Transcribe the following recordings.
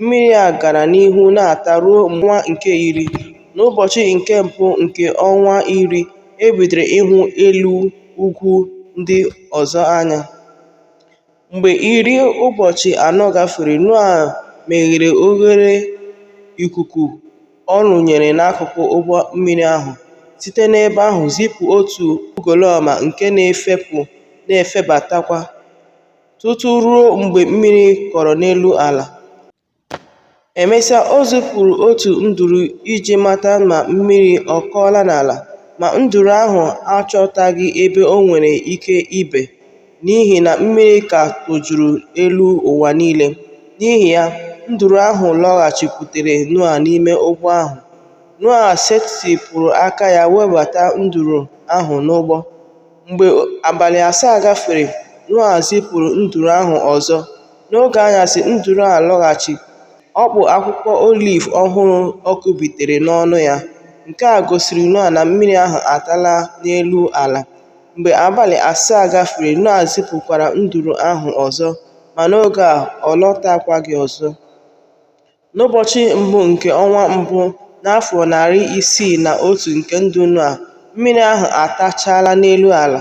Mmiri a gara n'ihu na-ata ruo ọnwa nke iri. N'ụbọchị nke mbụ nke ọnwa iri, e bidoro ịhụ elu ugwu ndị ọzọ anya. Mgbe iri ụbọchị anọ gafere, Noa meghere oghere ikuku ọ rụnyere n'akụkụ ụgbọ mmiri ahụ, site n'ebe ahụ zipụ otu ugolọma nke na-efepụ na-efebatakwa. tutu ruo mgbe mmiri kọrọ n'elu ala. Emesịa, o zipụrụ otu nduru iji mata ma mmiri ọ kọọla n'ala, ma nduru ahụ achọtaghị ebe o nwere ike ibe n'ihi na mmiri ka tojuru elu ụwa niile. N'ihi ya, nduru ahụ lọghachikwutere Noa n'ime ụgbọ ahụ. Noa setịpụrụ aka ya webata nduru ahụ n'ụgbọ. Mgbe abalị asaa gafere, Noa zipụrụ nduru ahụ ọzọ. N'oge anyasị, nduru a lọghachi, ọ kpụ akwụkwọ oliv ọhụrụ ọ kụbitere n'ọnụ ya. Nke a gosiri Noa na mmiri ahụ atala n'elu ala. Mgbe abalị asaa gafere, Noa zipụkwara nduru ahụ ọzọ, ma n'oge a ọ lọtakwaghị ọzọ. N'ụbọchị mbụ nke ọnwa mbụ n'afọ narị isii na otu nke ndụ Noa, mmiri ahụ atachaala n'elu ala.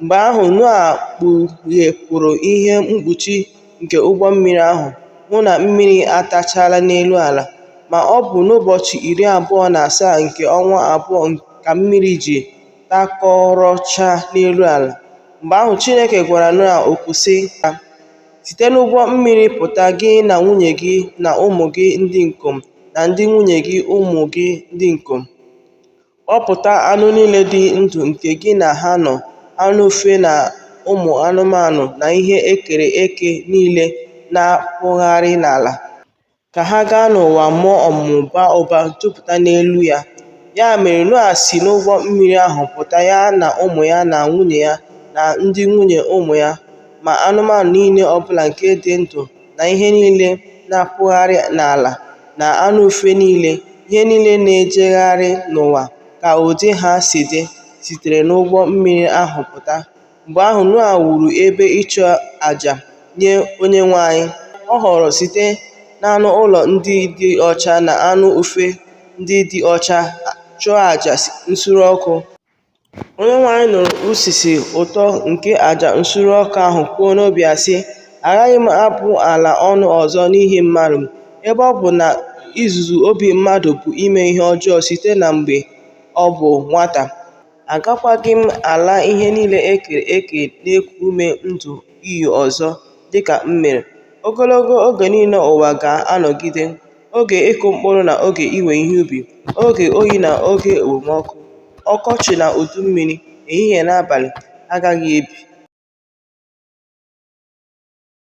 Mgbe ahụ, Noa kpughepụrụ ihe mkpuchi nke ụgbọ mmiri ahụ, hụ na mmiri atachaala n'elu ala. Ma ọ bụ n'ụbọchị iri abụọ na asaa nke ọnwa abụọ ka mmiri ji takọrọchaa n'elu ala. Mgbe ahụ, Chineke gwara Noa okwu sị ya, Site n'ụgbọ mmiri pụta, gị na nwunye gị na ụmụ gị ndị ikom na ndị nwunye gị ụmụ gị ndị ikom. Kpọpụta anụ niile dị ndụ nke gị na ha nọ, anụ ufe na ụmụ anụmanụ na ihe e kere eke niile na-akpụgharị n'ala. ka ha gaa n'ụwa mụọ ọmụmụ baa ụba jupụta n'elu ya. Ya mere Noa si n'ụgbọ mmiri ahụ pụta ya na ụmụ ya na nwunye ya na ndị nwunye ụmụ ya, ma anụmanụ niile ọ bụla nke dị ndụ na ihe niile na-akpụgharị n'ala na anụ ufe niile, ihe niile na-ejegharị n'ụwa ka ụdị ha si dị, sitere n'ụgbọ mmiri ahụ pụta. Mgbe ahụ, Noa wuru ebe ịchụ aja nye Onyenwe anyị. Ọ họọrọ site n'anụ ụlọ ndị dị ọcha na anụ ufe ndị dị ọcha chụọ aja nsure ọkụ. Onyenwe anyị nụrụ usisi ụtọ nke aja nsure ọkụ ahụ kwuo n'obi ya sị, Agaghị m abụ ala ọnụ ọzọ n'ihi mmadụ, ebe ọ bụ na izuzu obi mmadụ bụ ime ihe ọjọọ site na mgbe ọ bụ nwata. Agakwaghị m ala ihe niile e kere eke na-eku ume ndụ iyi ọzọ dị ka m mere. Ogologo oge niile ụwa ga-anọgide, oge ịkụ mkpụrụ na oge iwe ihe ubi, oge oyi na oge okpomọkụ, ọkọchị na udu mmiri, ehihie na abalị, agaghị ebi.